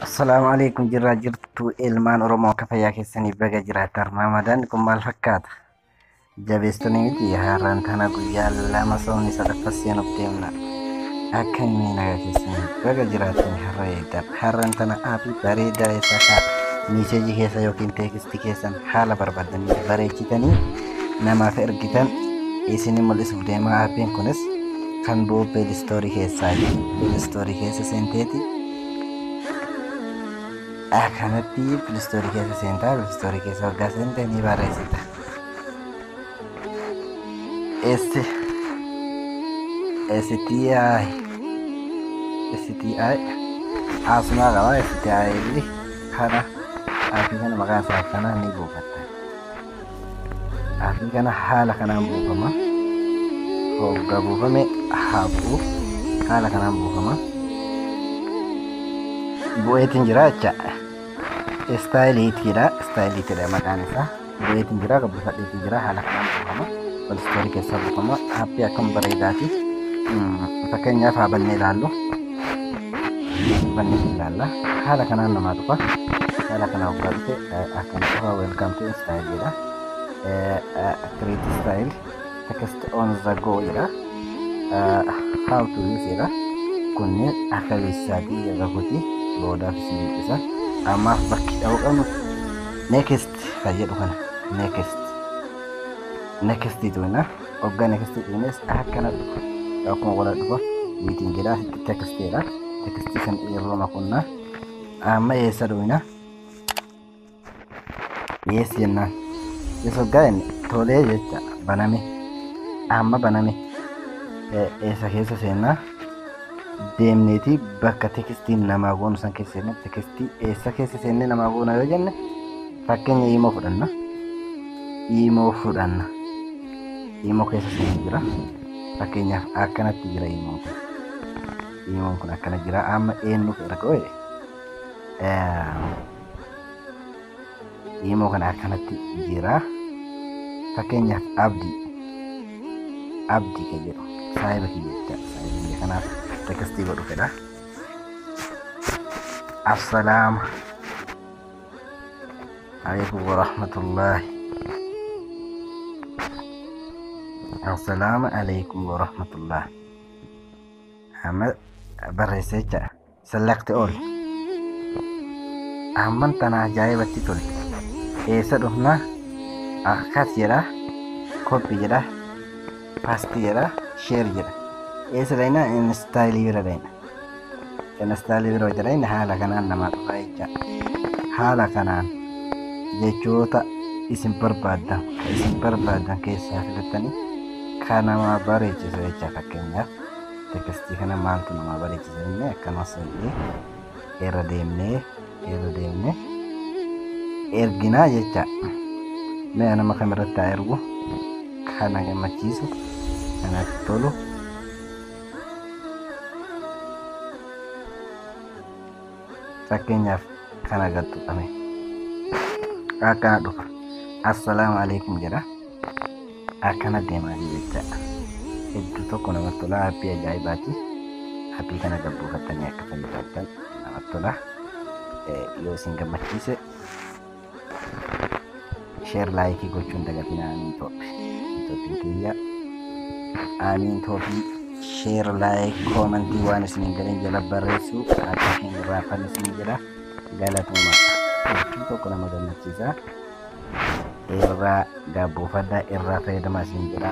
Assalaamu alaikum jirraa jirtu ilmaan Oromoo akka fayyaa keessanii baga jiraattan Ramaadaan kun maal fakkaata? Jabeessitanii miti haaraan tana guyyaa lama soomni sadaffaa seenuuf deemna. Akka inni nagaa keessanii baga jiraattan har'a eegdan haaraan tana aappii bareedaa isaa kaa miiseejii keessa yookiin teekistii keessan haala barbaadanii bareechitanii namaaf ergitan isinii mul'isuuf deema aappiin kunis kan bu'u peelistoorii keessaa peelistoorii keessa seenteeti akkanatti peelistoorii keessa seentaa peelistoorii keessa waggaa seentee ni barreessita esti esti esti asuma qaba esti kana aappii kana maqaan isaa akkanaa ni buufatta Xaafii kana haala kanaan buufama. Hoggaa buufame haa bu'u. Haala kanaan buufama. Bu'eetiin jira jecha. Istaayiliitiidha. Istaayiliitiidha maqaan isaa. Bu'eetiin jira gabbifadheetiin jira haala kanaan buufama. Walistoori keessaa buufama. Haappii akkam bareedaati. Fakkeenyaaf haa bannee ilaallu. Bannee ilaalla. Haala kanaan namaa dhufa. Haala kanaan hoggaa dhufe akkam qaba welcome to style jedha create style text on the go jedha how to use jedha kunni akka beeksisaatii irra kuti boodaaf si mul'isa ammaaf bakki dha'uu qabnu next fayyadu kana next next tuina ogga next tuines akkana dhufa akkuma wala dhufa wiitiin jedha text jedha text kan yeroo makunnaa amma eessa duwina dhiyeessi jennaan yesus hoggaa inni tolee jecha baname amma baname Eh, eessa keessa seennaa deemneeti bakka tekstiin namaa goonu san keessa seenne tekstii eessa keessa seennee namaa goona yoo jenne fakkeenya iimoo fudhanna iimoo fudhanna iimoo keessa seenne jira fakkeenyaaf akkanatti jira iimoon kun iimoon kun akkana jira amma eenyuuf erga ooye Imoo kana akkanatti jira. Fakkeenyaaf abdi. Abdi kan jedhu saayiba kiyya jecha saayiba kiyya kanaaf tekstii godhu fedha. Assalaama alaikum warahmatullahi. Assalaama alaikum warahmatullahi. Amma barreessa jecha Select all. Amman tana ajaa'ibatti tolte. Eessa dhufna? Akkas jedha. Copy jedha. Paste jedha. Share jedha. Eessa dhayna? Install bira dhayna. Install bira hojja dhayna haala kanaan namaa dhufa jecha. Haala kanaan jechoota isin barbaadan kan isin barbaadan keessaa filattanii kan namaa bareechisu jecha fakkeenyaaf. tekestii kana maaltu namaa bareechisa jennee akkanuma seennee irra deemnee irra deemnee erginaa jecha mee nama kam irratti haa ergu kana gammachiisu kanatti tolu fakkeenyaaf kana gad tuqame akkana dhufa assalaamu alaikum jedha akkana deemaa jiru jechaadha hedduu tokko namatti tola haappii ajaa'ibaati haappii kana gabbuufattanii akka fayyadamtan namatti tola Eh, yoo isin gammachiise Sheer laayikii gochuun dagatinaa amiin tooppi. Tooppiin kiyya amiin tooppi. Sheer laayik koomantii waan isin hin galin jala barreessu akka hin irraafan isin jedha. Galatooma. Tooppiin tokko nama gammachiisa. Irraa gaabbuufadha irraa fayyadama isin jedha.